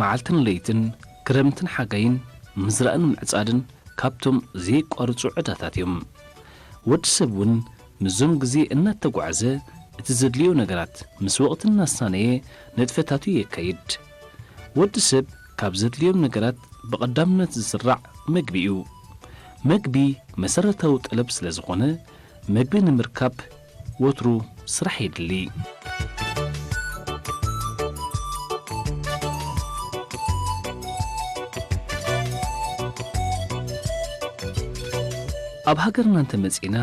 መዓልትን ለይትን፣ ክረምትን ሓጋይን፣ ምዝራእን ምዕጻድን ካብቶም ዘየቋርጹ ዕዳታት እዮም። ወዲ ሰብ እውን ምስዞም ግዜ እናተጓዕዘ እቲ ዘድልዮ ነገራት ምስ ወቕቲ እናሳነየ ንጥፈታቱ የካይድ። ወዲ ሰብ ካብ ዘድልዮም ነገራት ብቐዳምነት ዝስራዕ መግቢ እዩ። መግቢ መሰረታዊ ጠለብ ስለዝኾነ መግቢ ንምርካብ ወትሩ ስራሕ የድሊ። ኣብ ሃገርና እንተመጺእና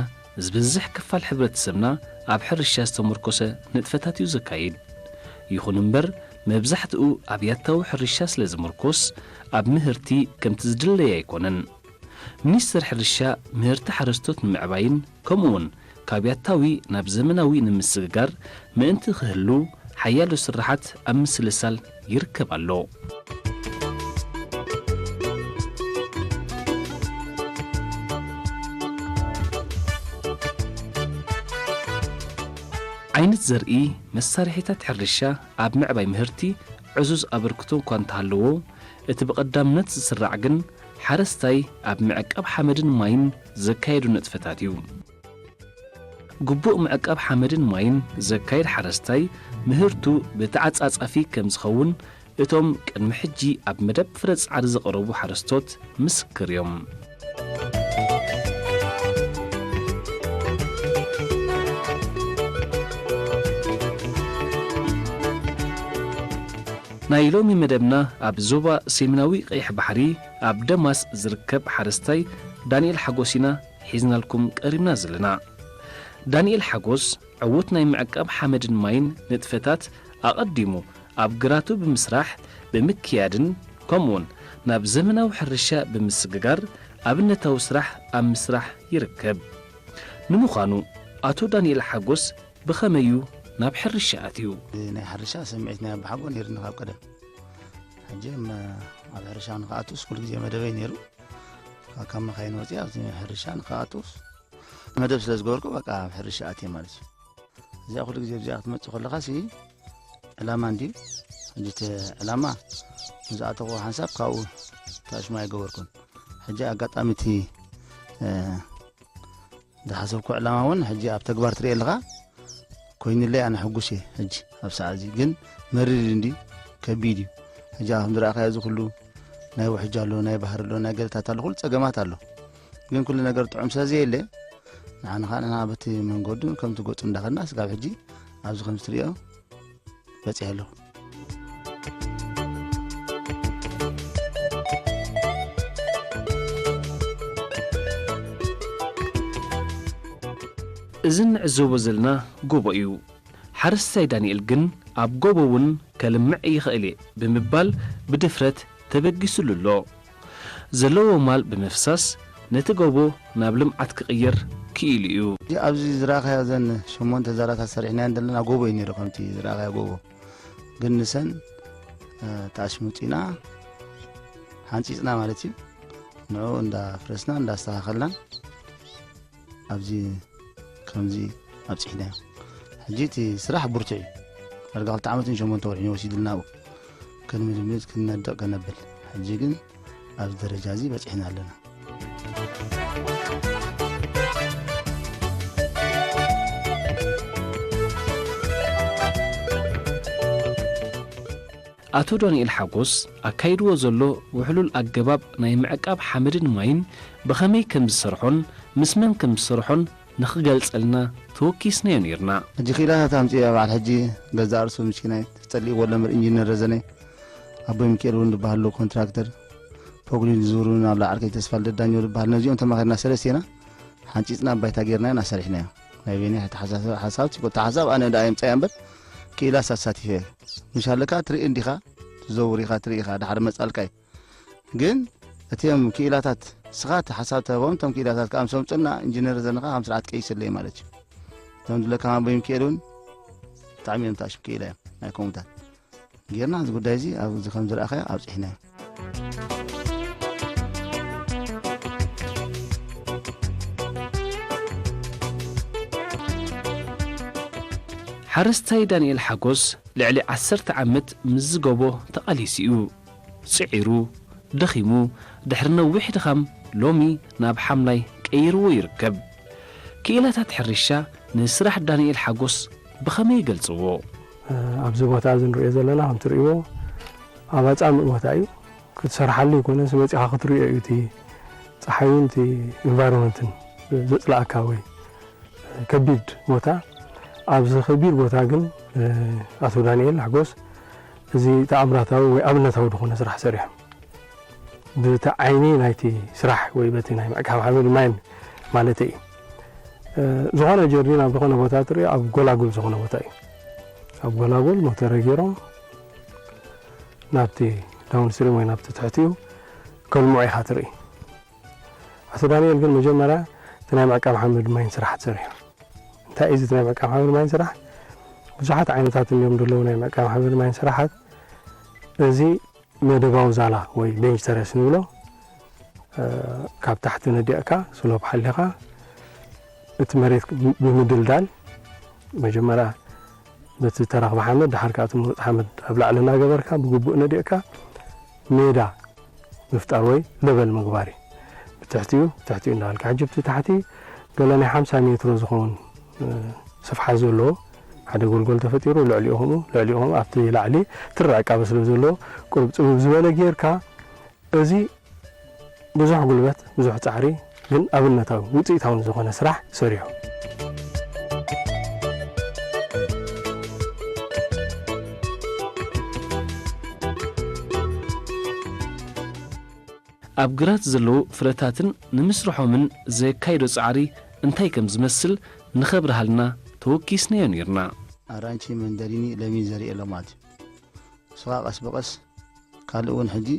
ዝበዝሕ ክፋል ሕብረተሰብና ኣብ ሕርሻ ዝተሞርኮሰ ንጥፈታት እዩ ዘካይድ። ይኹን እምበር መብዛሕትኡ ኣብ ያታዊ ሕርሻ ስለ ዝምርኮስ ኣብ ምህርቲ ከምቲ ዝድለይ ኣይኮነን። ሚኒስትር ሕርሻ ምህርቲ ሓረስቶት ንምዕባይን ከምኡ'ውን ካብ ያታዊ ናብ ዘመናዊ ንምስግጋር ምእንቲ ክህሉ ሓያሎ ስርሓት ኣብ ምስልሳል ይርከብ ኣሎ። ዓይነት ዘርኢ፣ መሳርሒታት ሕርሻ ኣብ ምዕባይ ምህርቲ ዕዙዝ ኣበርክቶ እኳ እንተሃለዎ፣ እቲ ብቐዳምነት ዝስራዕ ግን ሓረስታይ ኣብ ምዕቃብ ሓመድን ማይን፣ ዘካየዱ ንጥፈታት እዩ። ግቡእ ምዕቃብ ሓመድን ማይን ዘካይድ ሓረስታይ ምህርቱ ብተዓፃፃፊ ከምዝኸውን እቶም ቅድሚ ሕጂ ኣብ መደብ ፍረ ፃዕሪ ዝቐረቡ ሓረስቶት ምስክር እዮም። ናይ ሎሚ መደብና ኣብ ዞባ ሰሜናዊ ቀይሕ ባሕሪ፣ ኣብ ደማስ ዝርከብ ሓረስታይ ዳኒኤል ሓጎስ ኢና ሒዝናልኩም ቀሪብና ዘለና። ዳኒኤል ሓጎስ ዕዉት ናይ ምዕቃብ ሓመድን ማይን ንጥፈታት ኣቐዲሙ ኣብ ግራቱ ብምስራሕ ብምክያድን ከምኡ'ውን ናብ ዘመናዊ ሕርሻ ብምስግጋር ኣብነታዊ ስራሕ ኣብ ምስራሕ ይርከብ። ንምዃኑ ኣቶ ዳኒኤል ሓጎስ ብኸመይ'ዩ ናብ ሕርሻ ኣትዩ? ናይ ሕርሻ ስምዒት ናይ ኣቦሓጎ ነይሩኒ ካብ ቀደም። ሕጂ ኣብ ሕርሻ ንክኣትውስ ኩሉ ግዜ መደበይ ነይሩ ካብ መኻይን ወፂ ኣብዚ ሕርሻ ንክኣትውስ መደብ ስለ ዝገበርኩ በቃ ኣብ ሕርሻ ኣትየ ማለት እዩ እዚኣ ኩሉ ግዜ ብዚኣ ክትመፅእ ከለካ ሲ ዕላማ እንድዩ ሕጂ እቲ ዕላማ ንዝኣተኹዎ ሓንሳብ ካብኡ ታሽማ ኣይገበርኩን ሕጂ ኣጋጣሚ እቲ ዝሓሰብኩ ዕላማ እውን ሕጂ ኣብ ተግባር ትሪኤ ኣለኻ ኮይኑለይ ኣነ ሕጉስ እየ ሕጂ ኣብ ሰዓት እዚ ግን መሪር እዩ እንዲ ከቢድ እዩ ሕጂ ከም ዝረእኻዮ እዚ ኩሉ ናይ ውሕጅ ኣሎ ናይ ባህር ኣሎ ናይ ገለታት ኣሎ ኩሉ ፀገማት ኣሎ ግን ኩሉ ነገር ጥዑም ስለ ዘየለ ንዓና ከዓ ንና በቲ መንገዱ ከምቲ ገፁ እንዳኸድና ስጋብ ሕጂ ኣብዚ ከም ዝትሪኦ በፂሐ ኣለኹ እዚ እንዕዘቦ ዘለና ጎቦ እዩ። ሓረስታይ ዳንኤል ግን ኣብ ጎቦ እውን ከልምዕ ይኽእል እየ ብምባል ብድፍረት ተበጊሱሉ ኣሎ። ዘለዎ ማል ብምፍሳስ ነቲ ጎቦ ናብ ልምዓት ክቕይር ክኢሉ እዩ። እዚ ኣብዚ ዝራእኻዮ ዘን ሸሞንተ ዛላታት ሰሪሕናየን ዘለና ጎቦ እዩ ነይሩ ከምቲ ዝራእኻዮ ጎቦ ግን ንሰን ተኣሽሙጢና ሓንፂፅና ማለት እዩ ንዕኡ እንዳፍረስና እንዳስተኻኸልናን ኣብዚ ከምዚ ኣብፅሕናዮ ሕጂ እቲ ስራሕ ብርቱዕ እዩ ዳርጋ ክልተ ዓመትን ሸሞንተ ወርሕን እዩ ወሲዱልና ኣብኡ ከንምድምፅ ክንነድቕ ከነብል ሕጂ ግን ኣብዚ ደረጃ እዚ በፂሕና ኣለና ኣቶ ዳንኤል ሓጎስ ኣካይድዎ ዘሎ ውሕሉል ኣገባብ ናይ ምዕቃብ ሓመድን ማይን ብኸመይ ከምዝሰርሖን ምስ መን ከምዝሰርሖን ንኽገልጸልና ተወኪስናዮ ኔርና። ሕጂ ክኢላ ታታ ኣምጺኣ በዓል ሕጂ ገዛእ ርእሱ ምሽኪናይ ተጸሊእዎ ኣሎ እምበር ኢንጂነር ረዘነይ ኣቦይ ምኪኤል ውን ድበሃል ዶ ኮንትራክተር ፖግሊን ዝዝውር ውን ኣሎ ዓርከይ ተስፋልደት ዳኘው ድበሃል ነዚኦም ተማኺርና ሰለስቴና ሓንጺጽና ባይታ ጌርናዮን ኣሰሪሕናዮ ናይ ቤኒ ኣተሓሳስባ ሓሳብ ጭቁታ ሓሳብ ኣነ ደኣ የምፀያ እምበር ክኢላስ ኣሳቲፈ እየ ምሻለካ ትርኢ እንዲኻ ትዘውር ኢኻ ትርኢ ኢኻ ዳሓር መፃልካ እዩ ግን እትም ክኢላታት ስኻ እቲ ሓሳብ ተህቦም እቶም ክኢላታት ከዓ ምስ ኣምፅና ኢንጂነር ዘንኻ ከም ስርዓት ቀይስለ እዩ ማለት እዩ እቶም ድለካ ማንበይም ክእል እውን ብጣዕሚ እዮም ተኣሽም ክኢላ እዮም ናይ ኮሙታት ጌርና እዚ ጉዳይ እዚ ኣብዚ ከም ዝረኣኻዮ ኣብጺሕናዮ። ሓረስታይ ዳንኤል ሓጎስ ልዕሊ ዓሰርተ ዓመት ምስ ዝገቦ ተቓሊሱ እዩ ጽዒሩ ደኺሙ ድሕሪ ነዊሕ ድኻም ሎሚ ናብ ሓምላይ ቀይርዎ ይርከብ። ክኢላታት ሕርሻ ንስራሕ ዳንኤል ሓጎስ ብኸመይ ይገልጽዎ? ኣብዚ ቦታ እዚ ንሪኦ ዘለና ከም ትሪእዎ ኣብ ኣፃምእ ቦታ እዩ። ክትሰርሓሉ ኣይኮነስ መፂኻ ክትሪኦ እዩ እቲ ፀሓይን እቲ ኢንቫይሮመንትን ዘፅልኣካ ወይ ከቢድ ቦታ ኣብዚ ከቢድ ቦታ ግን ኣቶ ዳንኤል ሓጎስ እዚ ተኣምራታዊ ወይ ኣብነታዊ ዝኾነ ስራሕ ሰሪሖም ብቲ ዓይኒ ናይቲ ስራሕ ወይ በቲ ናይ ምዕቃብ ሓመድ ማይን ማለተይ እዩ። ዝኾነ ጀርዲን ኣብ ዝኾነ ቦታ ትሪኦ ኣብ ጎላጉል ዝኾነ ቦታ እዩ ኣብ ጎላጉል ሞተረ ገይሮም ናብቲ ዳውን ስትሪም ወይ ናብቲ ትሕቲኡ ከልምዑ ኢኻ ትርኢ ኣቶ ዳንኤል ግን መጀመርያ እቲ ናይ ምዕቃብ ሓመድ ማይን ስራሕ ትሰሪሑ እንታይ እዩ እቲ ናይ ምዕቃብ ሓመድ ማይን ስራሕ ብዙሓት ዓይነታት እዮም ዘለዉ ናይ ምዕቃብ ሓመድ ማይን ስራሓት እዚ መደባዊ ዛላ ወይ ደንጅተረስ ንብሎ ካብ ታሕቲ ነዲቕካ ስሎፕ ሓሊኻ እቲ መሬት ብምድልዳል መጀመርያ በቲ ተረኽበ ሓመድ ድሓር ከኣ እቲ ምሩፅ ሓመድ ኣብ ላዕሊ እናገበርካ ብግቡእ ነዲቕካ ሜዳ ምፍጣር ወይ ለበል ምግባር እዩ። ብትሕቲኡ ብትሕቲኡ እንዳበልካ ሕጂ ብቲ ታሕቲ ገለ ናይ ሓምሳ ሜትሮ ዝኸውን ስፍሓት ዘለዎ ሓደ ጎልጎል ተፈጢሩ ልዕሊኡ ከምኡ ልዕሊኡ ከምኡ ኣብቲ ላዕሊ ትሪ ዕቃበ ስለ ዘለዎ ቁሩብ ጽብብ ዝበለ ጌርካ እዚ ብዙሕ ጉልበት ብዙሕ ጻዕሪ ግን ኣብነታዊ ውጽኢታውን ዝኾነ ስራሕ ሰሪሑ። ኣብ ግራት ዘለዉ ፍረታትን ንምስርሖምን ዘካይዶ ጻዕሪ እንታይ ከም ዝመስል ንኸብርሃልና ተወኪስናዮ ኔርና። ኣራንቺ፣ መንደሪኒ፣ ለሚን ዘሪኤ ሎማት እዩ። ስቓ ቀስ ብቐስ ካልእ እውን ሕጂ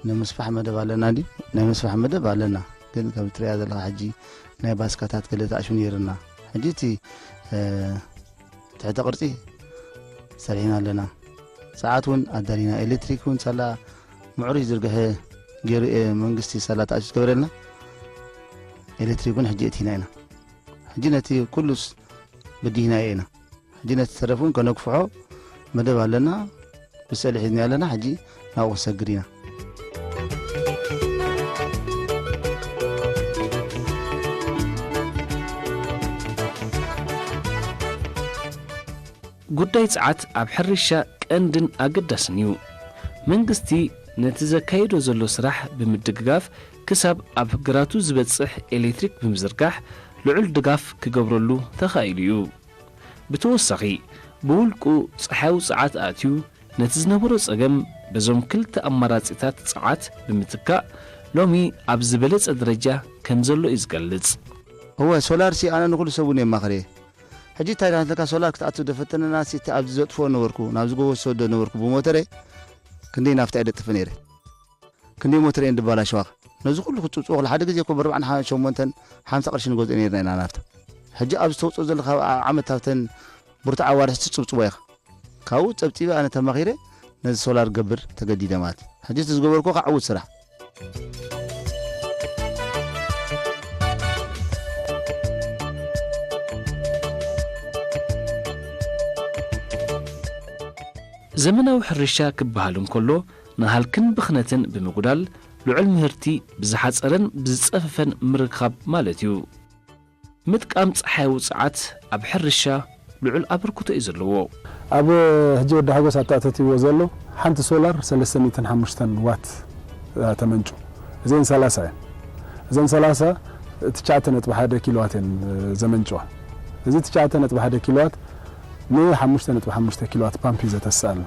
ናይ ምስፋሕ መደብ ኣለና ድዩ? ናይ ምስፋሕ መደብ ኣለና፣ ግን ከም እትርእያ ዘለኻ ሕጂ ናይ ባስካታት ገለ ተኣሽዩ ኔርና። ሕጂ እቲ ትሕተ ቅርፂ ሰሪሕና ኣለና ሰዓት እውን ኣዳሊና ኤሌክትሪክ እውን ሳላ ምዕሩይ ዝርግሐ ገይሩ እየ መንግስቲ ሳላ ተኣሽ ዝገበረልና ኤሌክትሪክ እውን ሕጂ እቲና ኢና ሕጂ ነቲ ኩሉስ ብዲህና ኢና ሕጂ ነቲ ተረፍ እውን ከነግፍሖ መደብ ኣለና ብሰእሊ ሒዝናዮ ኣለና ሕጂ ናብኡ ክንሰግድ ኢና። ጉዳይ ጸዓት ኣብ ሕርሻ ቀንድን ኣገዳስን እዩ። መንግስቲ ነቲ ዘካይዶ ዘሎ ስራሕ ብምድግጋፍ ክሳብ ኣብ ግራቱ ዝበጽሕ ኤሌክትሪክ ብምዝርጋሕ ልዑል ድጋፍ ክገብረሉ ተኻኢሉ እዩ። ብተወሳኺ ብውልቁ ፀሓያዊ ፀዓት ኣእትዩ ነቲ ዝነበሮ ፀገም በዞም ክልተ ኣማራፂታት ፀዓት ብምትካእ ሎሚ ኣብ ዝበለፀ ደረጃ ከምዘሎ እዩ ዝገልፅ። እወ ሶላርሲ ኣነ ንኹሉ ሰብ እውን የማኽር'የ። ሕጂ እንታይ ዳኣንተካ ሶላር ክትኣቱ ደፈተነናሲ እቲ ኣብዚ ዘጥፍኦ ነበርኩ ናብዚ ጎቦ ዝሰዶ ነበርኩ ብሞተረይ ክንደይ ናፍታ እየ ደጥፍእ ነይረ። ክንደይ ሞተር እየን ድባላሸዋኽ ነዚ ኩሉ ክትጽብጽቦክላ ሓደ ግዜ እኮ ብርብዓን ሓ ሸሞንተን ሓምሳ ቅርሺ ንገዝኦ ኔርና ኢና ናፍታ ሕጂ ኣብዚ ተውጽኦ ዘለካ ኣብ ኣብ ዓመት ኣብተን ብርቱዕ ኣዋርሕ ትጽብጽቦ ኢካ ካብኡ ጸብጺበ ኣነ ተማኺረ ነዚ ሶላር ክገብር ተገዲደ ማለት ሕጂ እቲ ዝገበርክዎ ካኣ ዕውት ስራሕ ዘመናዊ ሕርሻ ክበሃል እንከሎ፣ ንሃልክን ብኽነትን ብምጉዳል ልዑል ምህርቲ ብዝሓጸረን ብዝጸፈፈን ምርካብ ማለት እዩ። ምጥቃም ጸሓያዊ ጸዓት ኣብ ሕርሻ ልዑል ኣበርክቶ እዩ ዘለዎ። ኣብ ሕጂ ወዲ ሓጎስ ኣተኣታትይዎ ዘሎ ሓንቲ ሶላር ሰለስተ ሚእትን ሓሙሽተን ዋት እያ ተመንጩ። እዚኤን ሰላሳ እየን። እዘን ሰላሳ ትሽዓተ ነጥቢ ሓደ ኪሎዋት እየን ዘመንጭዋ። እዚ ትሽዓተ ነጥቢ ሓደ ኪሎዋት ንሓሙሽተ ነጥቢ ሓሙሽተ ኪሎዋት ፓምፕ እዩ ዘተስኣልና።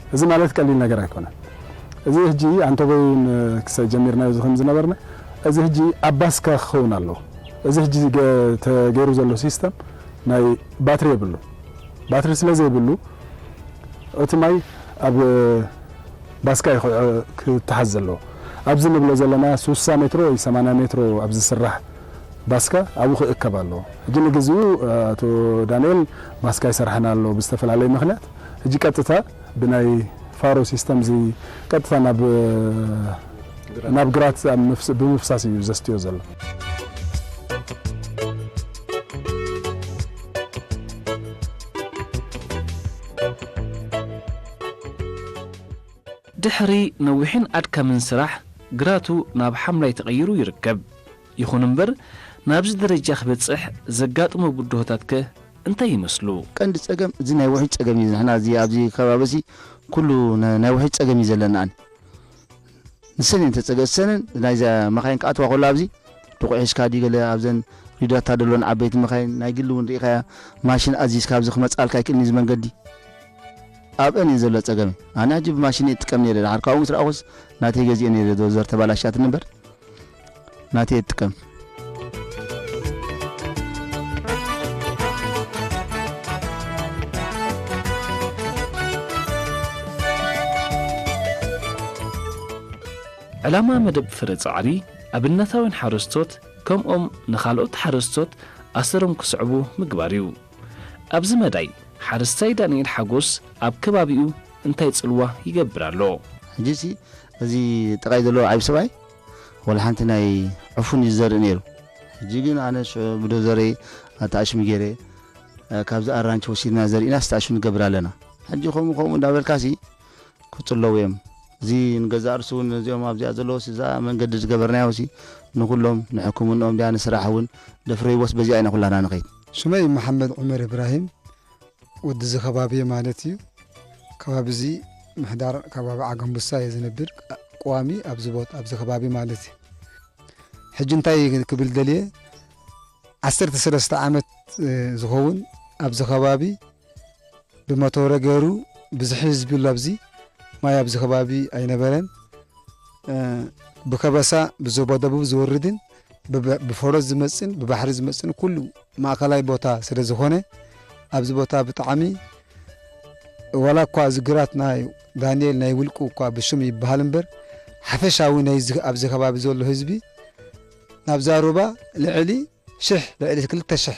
እዚ ማለት ቀሊል ነገር ኣይኮነን እዚ ህጂ ኣንተበይ ን ክሰ ጀሚርናዮ ዝኸም ዝነበርና እዚ ህጂ ኣባስካ ክኸውን ኣለዎ እዚ ህጂ ተገይሩ ዘሎ ሲስተም ናይ ባትሪ የብሉን ባትሪ ስለ ዘይብሉ እቲ ማይ ኣብ ባስካ እዩ ክተሓዝ ዘለዎ ኣብዚ ንብሎ ዘለና ሱሳ ሜትሮ ወይ ሰማንያ ሜትሮ ኣብ ዝስራሕ ባስካ ኣብኡ ክእከብ ኣለዎ ህጂ ንግዚኡ ኣቶ ዳንኤል ባስካ ኣይሰርሐን ኣሎ ብዝተፈላለይ ምክንያት ሕጂ ቀጥታ ብናይ ፋሮ ሲስተም እዚ ቀጥታ ናብ ናብ ግራት ብምፍሳስ እዩ ዘስትዮ ዘሎ። ድሕሪ ነዊሕን ኣድካምን ስራሕ ግራቱ ናብ ሓምላይ ተቐይሩ ይርከብ። ይኹን እምበር ናብዚ ደረጃ ክበጽሕ ዘጋጠሞ ብድሆታት ከ እንታይ ይመስሉ? ቀንዲ ጸገም እዚ ናይ ውሕጅ ጸገም እዩ ንሕና እዚ ኣብዚ ከባቢ እዚ ኩሉ ናይ ውሕጅ ጸገም እዩ ዘለና ኣን ንሰን እየን ተጸገ ሰንን ናይዛ መኻይን ክኣትዋ ከሎ ኣብዚ ድቑዕ ሒዝካ ድዩ ገለ ኣብዘን ሪዳታ ደሎን ዓበይቲ መኻይን ናይ ግሊ እውን ርኢኻያ ማሽን ኣዚዝካ ኣብዚ ክመጽኣልካ ኣይክእልን እዩ እዚ መንገዲ ኣብአን እየን ዘሎ ጸገመ ኣነ ሕጂ ብማሽን እየ እጥቀም ነይረ ድሓር ካብኡ ምስ ረኣኹስ ናተይ ገዚኤ ነይረ ዶዘር ተባላሽያትኒ እምበር ናተይ እጥቀም። ዕላማ መደብ ፍረ ጻዕሪ፣ ኣብነታውያን ሓረስቶት ከምኦም ንኻልኦት ሓረስቶት ኣሰሮም ክስዕቡ ምግባር እዩ። ኣብዚ መዳይ ሓረስታይ ዳንኤል ሓጎስ ኣብ ከባቢኡ እንታይ ጽልዋ ይገብር ኣሎ? ሕጂሲ እዚ ጥቓይ ዘሎ ዓቢ ሰብኣይ? ዋላ ሓንቲ ናይ ዕፉን እዩ ዝዘርእ ነይሩ። ሕጂ ግን ኣነ ሽዑ ብዶዘረይ ኣተኣሽሚ ገይረ ካብዚ ኣራንቺ ወሲድና ዘሪእና ዝተኣሽሙ ንገብር ኣለና። ሕጂ ከምኡ ከምኡ እንዳበልካሲ ክጽለዉ እዮም እዚ ንገዛእ ርእሱ ውን እዚኦም ኣብዚኣ ዘለዉሲ እዛ መንገዲ ዝገበርናዮሲ ንኩሎም ንሕክምንኦም ድያ ንስራሕ ውን ደፍረይዎስ በዚኣ ኢና ኩላትና ንከይድ። ስመይ መሓመድ ዑመር እብራሂም ወድዚ ከባቢ እየ ማለት እዩ። ከባቢ እዚ ምሕዳር ከባቢ ዓገምቡሳ እየ ዝነብር ቀዋሚ ኣብዚ ቦታ ኣብዚ ከባቢ ማለት እዩ። ሕጂ እንታይ ክብል ደልየ ዓሰርተ ሰለስተ ዓመት ዝኸውን ኣብዚ ከባቢ ብመተወረ ገይሩ ብዝሒ ህዝቢ ኣሎ ኣብዚ ማይ ኣብዚ ከባቢ ኣይነበረን ብከበሳ ብዞባ ደቡብ ዝወርድን ብፈረስ ዝመጽን ብባሕሪ ዝመጽን ኩሉ ማእከላይ ቦታ ስለ ዝኾነ ኣብዚ ቦታ ብጣዕሚ ዋላ እኳ እዚ ግራት ናይ ዳንኤል ናይ ውልቁ እኳ ብሽም ይበሃል እምበር ሓፈሻዊ ናይ ኣብዚ ከባቢ ዘሎ ህዝቢ ናብዛ ሩባ ልዕሊ ሽሕ ልዕሊ ክልተ ሽሕ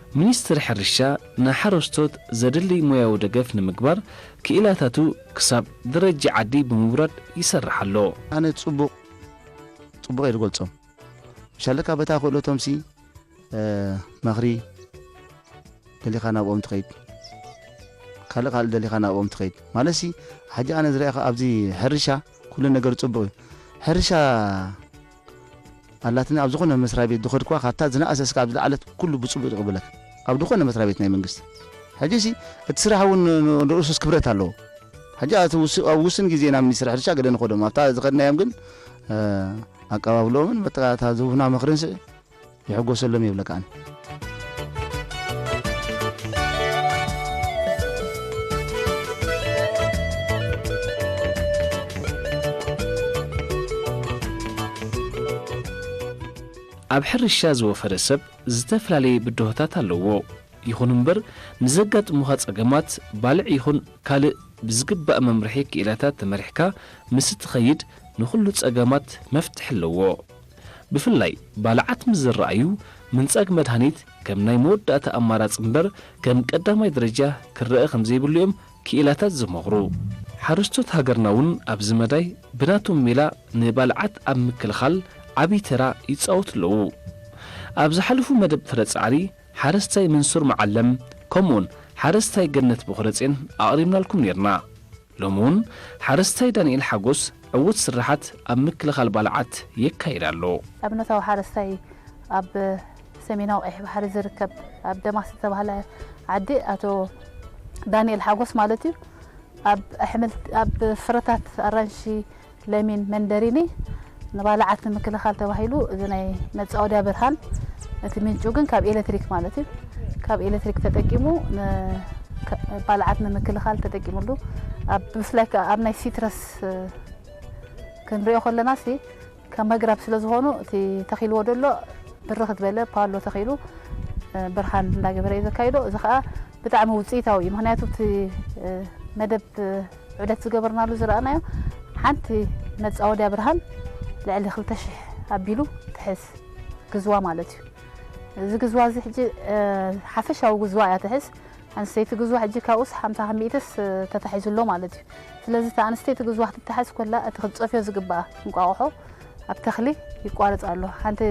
ሚኒስትሪ ሕርሻ ንሓረስቶት ዘድልይ ሞያዊ ደገፍ ንምግባር ክኢላታቱ ክሳብ ደረጃ ዓዲ ብምውራድ ይሰርሕ ኣሎ። ኣነ ጽቡቕ ጽቡቕ እየ ዝገልጾም ሻለቃ በታ ክእለቶምሲ መኽሪ ደሊኻ ናብኦም ትኸይድ ካልእ ካልእ ደሊኻ ናብኦም ትኸይድ ማለትሲ ሕጂ ኣነ ዝረኣኻ ኣብዚ ሕርሻ ኩሉ ነገር ጽቡቕ እዩ ሕርሻ ኣላትኒ ኣብ ዝኮነ መስራቤት ድከድክዋ ካብታ ዝነኣሰ እስካብ ዝለዓለት ኩሉ ብጽቡቅ ዝቅበለካ ኣብ ድኮነ መስራቤት ናይ መንግስቲ ሕጂሲ እቲ ስራሕ ውን ንኡሱስ ክብረት ኣለዎ ሕጂ ኣቲ ኣብ ውስን ግዜ ናብ ሚኒስትሪ ሕርሻ ገለ ንከዶም ኣብታ ዝከድናዮም ግን ኣቀባብልኦምን መተካእታ ዝቡና ምክርን ስዒ ይሕጎሰሎም የብለካን። ኣብ ሕርሻ ዝወፈረ ሰብ ዝተፈላለየ ብድሆታት ኣለዎ። ይኹን እምበር ንዘጋጥሙኻ ፀገማት ባልዕ ይኹን ካልእ ብዝግባእ መምርሒ ክኢላታት ተመሪሕካ ምስ እትኸይድ ንኹሉ ፀገማት መፍትሒ ኣለዎ። ብፍላይ ባልዓት ምስ ዝረኣዩ ምንጻግ መድሃኒት ከም ናይ መወዳእታ ኣማራጺ እምበር ከም ቀዳማይ ደረጃ ክረኣ ከም ዘይብሉ እዮም ክኢላታት ዝመኽሩ። ሓረስቶት ሃገርና እውን ኣብዚ መዳይ ብናቶም ሜላ ንባልዓት ኣብ ምክልኻል ዓብዪ ተራ ይጻወቱ ኣለዉ። ኣብ ዝሓለፉ መደብ ፍረ ጻዕሪ ሓረስታይ መንሱር መዓለም ከምኡውን ሓረስታይ ገነት ቦኽረጼን ኣቕሪብናልኩም ኔርና። ሎሚ እውን ሓረስታይ ዳንኤል ሓጎስ ዕዉት ስርሓት ኣብ ምክልኻል ባልዓት የካይድ ኣሎ። ኣብነታዊ ሓረስታይ ኣብ ሰሜናዊ ቀይሕ ባሕሪ ዝርከብ ኣብ ደማስ ዝተባህለ ዓዲ ኣቶ ዳንኤል ሓጎስ ማለት እዩ ኣብ ኣሕምልቲ ኣብ ፍረታት ኣራንሺ፣ ለሚን መንደሪኒ ንባልዓት ንምክልኻል ተባሂሉ እዚ ናይ መፃወድያ ብርሃን እቲ ምንጩ ግን ካብ ኤሌክትሪክ ማለት እዩ ካብ ኤሌክትሪክ ተጠቂሙ ባልዓት ንምክልኻል ተጠቂሙሉ ብፍላይ ከዓ ኣብ ናይ ሲትረስ ክንሪኦ ከለና ሲ ካብ መግራብ ስለ ዝኾኑ እቲ ተኺልዎ ደሎ ብርኽ ዝበለ ፓሎ ተኺሉ ብርሃን እንዳገበረ እዩ ዘካይዶ እዚ ከዓ ብጣዕሚ ውፅኢታዊ እዩ ምክንያቱ እቲ መደብ ዑደት ዝገበርናሉ ዝረኣናዮ ሓንቲ መፃወድያ ብርሃን ልዕሊ ክልተ ሽሕ ኣቢሉ ትሕዝ ግዝዋ ማለት እዩ እዚ ግዝዋ እዚ ሕጂ ሓፈሻዊ ግዝዋ እያ ትሕዝ ኣንስተይቲ ግዝዋ ሕጂ ካብኡስ ሓምሳ ካብ ሚእትስ ተታሒዙ ኣሎ ማለት እዩ ስለዚ እቲ ኣንስተይቲ ግዝዋ ክትተሓዝ ኮላ እቲ ክትፀፍዮ ዝግባኣ እንቋቑሖ ኣብ ተኽሊ ይቋረፅ ኣሎ ሓንቲ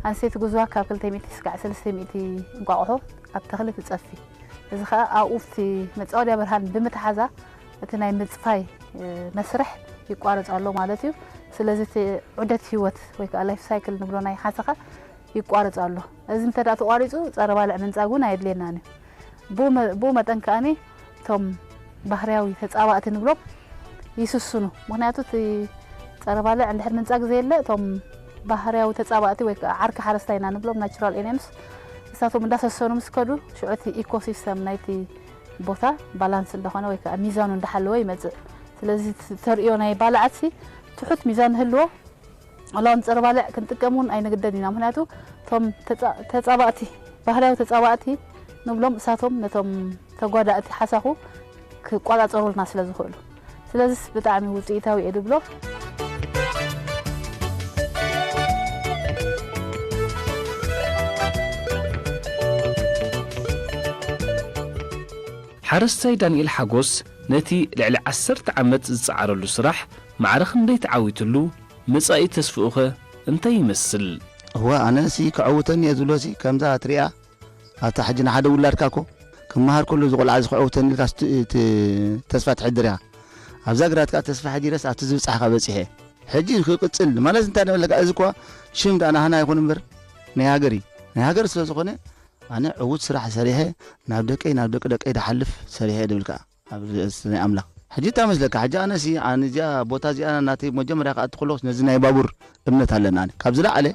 ኣንስተይቲ ግዝዋ ካብ ክልተ ሚእቲ እስካዕ ሰለስተ ሚእቲ እንቋቑሖ ኣብ ተኽሊ ትጸፊ። እዚ ከኣ ኣብኡ ኣብቲ መጻወድያ ብርሃን ብምትሓዛ እቲ ናይ ምጽፋይ መስርሕ ይቋረጽ ኣሎ ማለት እዩ። ስለዚ እቲ ዑደት ህይወት ወይ ከኣ ላይፍ ሳይክል ንብሎ ናይ ሓሰኻ ይቋረጽ ኣሎ። እዚ እንተ ተቋሪጹ ጸረ ባልዕ ምንጻግ እውን ኣየድልየናን እዩ። ብኡ መጠን ከኣ እቶም ባህርያዊ ተጻባእቲ ንብሎም ይስስኑ። ምኽንያቱ እቲ ጸረ ባልዕ እንድሕር ምንጻግ ዘየለ እቶም ባህርያዊ ተጻባእቲ ወይ ከኣ ዓርኪ ሓረስታይ ኢና ንብሎም ናቹራል ኤንየምስ ንሳቶም እንዳሰሰኑ ምስ ከዱ ሽዑ እቲ ኢኮ ሲስተም ናይቲ ቦታ ባላንስ እንዳኾነ ወይ ከኣ ሚዛኑ እንዳሓለወ ይመጽእ። ስለዚ እቲ ተርእዮ ናይ ባልዓትሲ ትሑት ሚዛን ንህልዎ ዋላ ውን ፀረ ባልዕ ክንጥቀም ውን ኣይንግደድ ኢና ምክንያቱ እቶም ተፃባእቲ ባህላዊ ተፃባእቲ ንብሎም እሳቶም ነቶም ተጓዳእቲ ሓሳኹ ክቋፃፀሩልና ስለ ዝኽእሉ ስለዝስ ብጣዕሚ ውፅኢታዊ እየ ድብሎ። ሓረስታይ ዳንኤል ሓጎስ ነቲ ልዕሊ ዓሰርተ ዓመት ዝፀዓረሉ ስራሕ ማዕረ ክንደይ ተዓዊትሉ መጻኢ ተስፍኡኸ እንታይ ይመስል? እወ ኣነ ሲ ከዐውተኒ እየ ዝብሎ ሲ ከምዛ እትሪኣ ኣብታ ሕጂ ንሓደ ውላድካ እኮ ክመሃር ከሎ እዚ ቆልዓ እዚ ከዐውተኒ ኢልካ ቲ ተስፋ ትሕድር ኢኻ ኣብዛ ግራት ከኣ ተስፋ ሐዲረስ ኣብቲ ዝብጻሕካ በጺሐ ሕጂ ክቅጽል ማለት እንታይ ንብለካ እዚ እኳ ሽም ደኣ ናህና ይኹን እምበር ናይ ሃገር እዩ ናይ ሃገር ስለ ዝኾነ ኣነ ዕውት ስራሕ ሰሪሐ ናብ ደቀይ ናብ ደቂ ደቀይ ድሓልፍ ሰሪሐ እየ ድብል ከኣ። ኣብዚ እስ ናይ ኣምላኽ ሕጂ እንታይ መስለካ ሕጂ ኣነሲ ኣነ እዚኣ ቦታ እዚኣ ናተይ መጀመርያ ክኣቲ ከለኹስ ነዚ ናይ ባቡር እምነት ኣለኒ ኣነ ካብ ዝለዓለ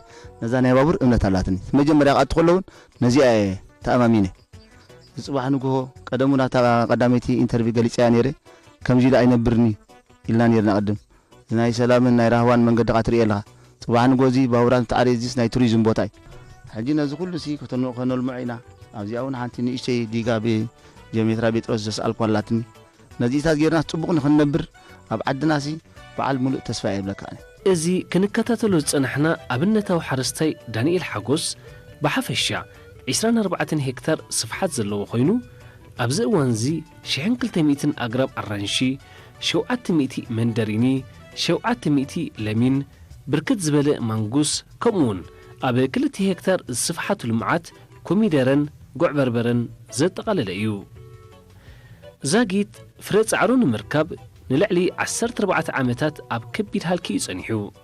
ነዛ ናይ ባቡር እምነት ኣላትኒ መጀመርያ ክኣቲ ከሎ እውን ነዚኣ እየ ተኣማሚነ ዝጽባሕ ንግሆ ቀደም እውን ኣብታ ቀዳመይቲ ኢንተርቪ ገሊጸያ ነይረ ከምዚ ኢለ ኣይነብርኒ ኢልና ነይርና ቅድም ናይ ሰላምን ናይ ራህዋን መንገድኻ ትርእዮ ኣለኻ ጽባሕ ንግሆ እዚ ባቡራት እንትዓርይ እዚስ ናይ ቱሪዝም ቦታ እዩ። ሕጂ ነዚ ኩሉ ሲ ከነልምዖ ኢና ኣብዚኣ ውን ሓንቲ ንእሽተይ ዲጋ ብ ጀኦሜትራ ቤጥሮስ ዘስኣልክዋ ኣላትኒ ነዚኢታት ጌርናስ ጽቡቅ ንክንነብር ኣብ ዓድና ሲ በዓል ምሉእ ተስፋ እየ እብለካ ኣነ። እዚ ክንከታተሎ ዝጸናሕና ኣብነታዊ ሓረስታይ ዳኒኤል ሓጎስ ብሓፈሻ ዕስራን ኣርባዕተን ሄክታር ስፍሓት ዘለዎ ኮይኑ ኣብዚ እዋንዚ ሽሕን ክልተ ሚእትን ኣግራብ ኣራንሺ፣ ሸውዓተ ሚእቲ መንደሪኒ፣ ሸውዓተ ሚእቲ ለሚን፣ ብርክት ዝበለ ማንጉስ ከምኡውን ኣብ ክልተ ሄክታር ዝስፍሓቱ ልምዓት ኮሚደረን ጉዕበርበረን ዘጠቓለለ እዩ። ዛጊት ፍረ ጻዕሩ ንምርካብ ንልዕሊ ዓሰርተ ኣርባዕተ ዓመታት ኣብ ከቢድ ሃልኪ እዩ ጸኒሑ።